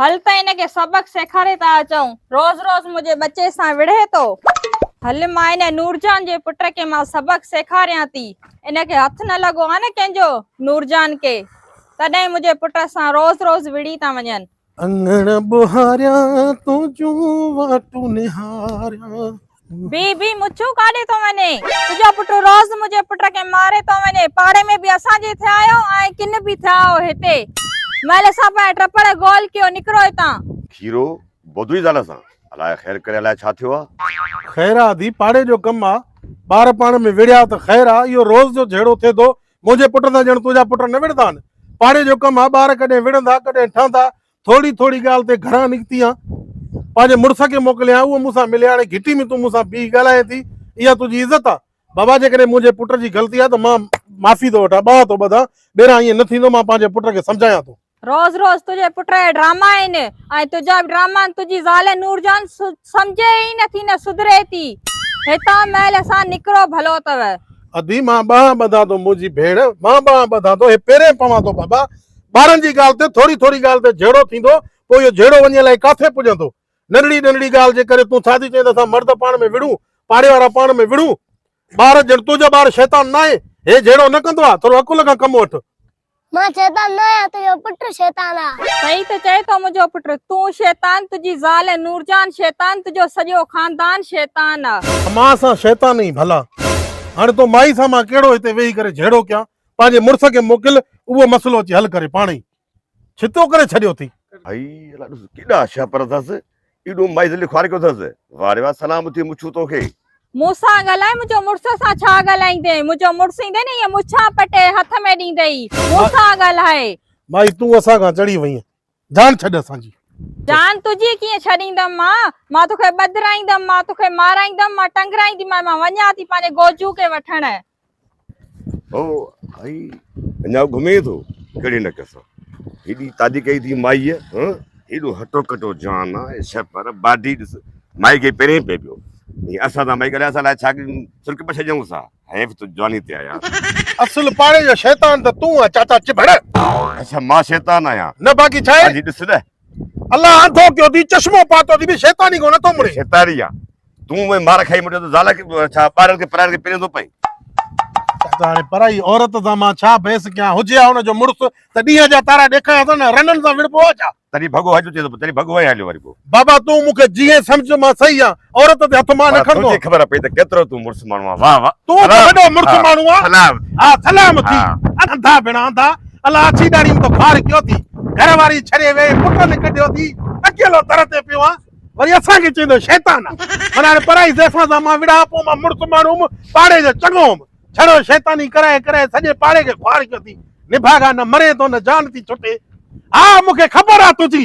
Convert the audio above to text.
هل ته هن کي سبق سيکاري ٿا اچون. روز روز منهنجي ٻچي سان وڙهي ٿو. هل مان هن نورجان جي پٽ کي مان سبق سيکاريان ٿي. ان کي هٿ نه لڳو آ نه ڪنهن جو نورجان کي تڏهن منهنجي پٽ سان روز روز وڙهي ٿا وڃن. اڱڻ ٻهاريان تنهنجون واٽون نهاريان. بي بي مڇون ڪاڏي ٿو وڃي تنهنجو پٽ روز منهنجي پٽ کي ماري ٿو وڃي پاڙي ۾ به اسان جي ٿيا آهيو ۽ ڪن به ٿيا آهيو هتي مئل اسان پنهنجا ٽپڙ گول ڪيو نڪرو هتان. کيرو، بدوي زال سان، الاء خير ڪري الاء ڇا ٿيو آ. خير آ ڌي پاڙي جو ڪم آ ٻار پاڻ ۾ وڙهيا ته خير آ اهو روز جو جهيڙو ٿئي ٿو منهنجي پٽ سان ڄڻ تنهنجا پٽ نه وڙهندا آهن پاڙي جو ڪم آ ٻار ڪڏهن وڙهندا ڪڏهن ٺهندا ٿوري ٿوري ڳالهه تي گهران نڪتي آن پنهنجي مڙس کي موڪليان اهو مون سان ملي هاڻي گهٽي ۾ تون مون سان بيهي ڳالهائين ٿي اها تنهنجي عزت آ بابا جيڪڏهن منهنجي پٽ جي غلطي آ ته مان معافي ٿو وٺان ٻانهن ٿو ٻڌان ٻيران ائين نه ٿيندو مان پنهنجي پٽ کي سمجهايان ٿو روز روز تنهنجي پٽ جا ڊراما آهن ۽ تنهنجا به ڊراما آهن تنهنجي زال نور جان سمجهي ئي نه ٿي نه سڌري ٿي هتان مهل سان نڪرو ڀلو اٿو ادي مان ٻانهن ٻڌان ٿو منهنجي ڀيڻ مان ٻانهن ٻڌان ٿو هي پيرين پوان ٿو بابا ٻارن جي ڳالهه تي ٿوري ٿوري ڳالهه تي جهيڙو ٿيندو، پوء اهو جهيڙو وڃي الائي ڪاٿي پڄندو. ننڍڙي ننڍڙي ڳالهه جي ڪري تون ٿادي چئين ته اسان مرد پاڻ ۾ وڙهون، پاڙي وارا پاڻ ۾ وڙهون. ٻار، ڄڻ تنهنجو ٻار شيطان ناهي، هي جهيڙو نه ڪندو آ، ٿورو عقل کان ڪم وٺ. مان شيطان ناهيان، تنهنجو پٽ شيطان آ. سهي ته چئين ٿو منهنجو پٽ، تون شيطان، تنهنجي زال ۽ نورجان شيطان، تنهنجو سڄو خاندان شيطان آ. مان سان شيطان ئي ڀلا. هاڻي تو مائي سان مان ڪهڙو هتي ويهي ڪري جهيڙو ڪيان. پنهنجي مڙس کي موڪل اهو مسئلو اچي حل ڪري پاڻ ئي ڇتو ڪري ڇڏيو اٿئي. هائي الا ڏس ڪيڏا شهپر اٿس ايڏو مائيز لکواري ڪيو اٿس واه ري واه سلام اٿئي مڇو توکي. مون سان ڳالهاء منهنجو مڙس سان ڇا ڳالهائيندين منهنجو مڙس ايندي نه ائين مڇان پٽي هٿ ۾ ڏيندئي مون سان ڳالهاء. مائي تون اسان کان چڙهي وئين جان ڇڏ اسان جي. جان تنهنجي ڪيئن ڇڏيندم مان، مان توکي ٻڌرائيندم، مان توکي مارائيندم، مان ٽنگرائينديمانء، مان وڃان ٿي پنهنجي گوجو کي وٺڻ. هو هي اڃا گهمي ٿو ڪهڙي نڪ سان. هيڏي تادي ڪئي اٿئي مائيء هن. هيڏو هٽو ڪٽو جان آ اي ڇهه پر باڊي ڏس. مائي کي پرين پئي پيو. هي اسان سان مائي ڳالهائي اسان لاء ڇا سرڪ پڇجئون سا. حيف تون جواني تي آيا. اصل پاڙي جو شيطان ته تون آهين چاچا چڀڙ. اڇا مان شيطان آهيان. نه باقي ڇا آهي. ڏس نه. الله آنڌو ڪيو اٿئي چشمو پاتو اٿئي ڀي شيطاني ڪو نٿو مڙي. شيطان ئي آ. تون اوهين مار کائي مڙيو ته زال ڇا ٻارڙن کي پرائڻ کي پيرين ٿو پئي. چاچا هاڻي پرائي عورت سان مان ڇا بحث ڪيان هجي ها ان جو مڙس ته ڏينهن جا تارا ڏيکايا اٿن رنن سان وڙهبو آ ڇا. تڏهن ڀڳو هجو چيو ته تڏهن ڀڳو هنئين هليو وري پوء. بابا تون مون کي جيئن سمجهه مان صحيح آهن عورت تي هٿ مان نه کڻبو آهن. تنهنجي خبر پئي ته ڪيترو تون مڙس ماڻهو آهن واه واه. تون ته وڏو مڙس ماڻهو آهن. سلام ٿي. ها سلام ٿي. انڌا ڀيڻ انڌا الا اڇي ڏاڙهي ۾ تو خار ڪيو ٿي گهر واري ڇڏي وئي پٽ نه ڪڍيو ٿي اڪيلو در تي پيو آهن وري اسان کي چويندو شيطان آهن معنيٰ هاڻي پرائي زيفان سان مان وڙهان پوء مان مڙس ماڻهو هوم پاڙي جو چڱو هوم. ڇڙو شيطاني ڪرائي ڪرائي سڄي پاڙي کي خوار ڪيو ٿي نڀاڳا نه مرين ٿو نه جان ٿي ڇٽي ها مون کي خبر آ تنهنجي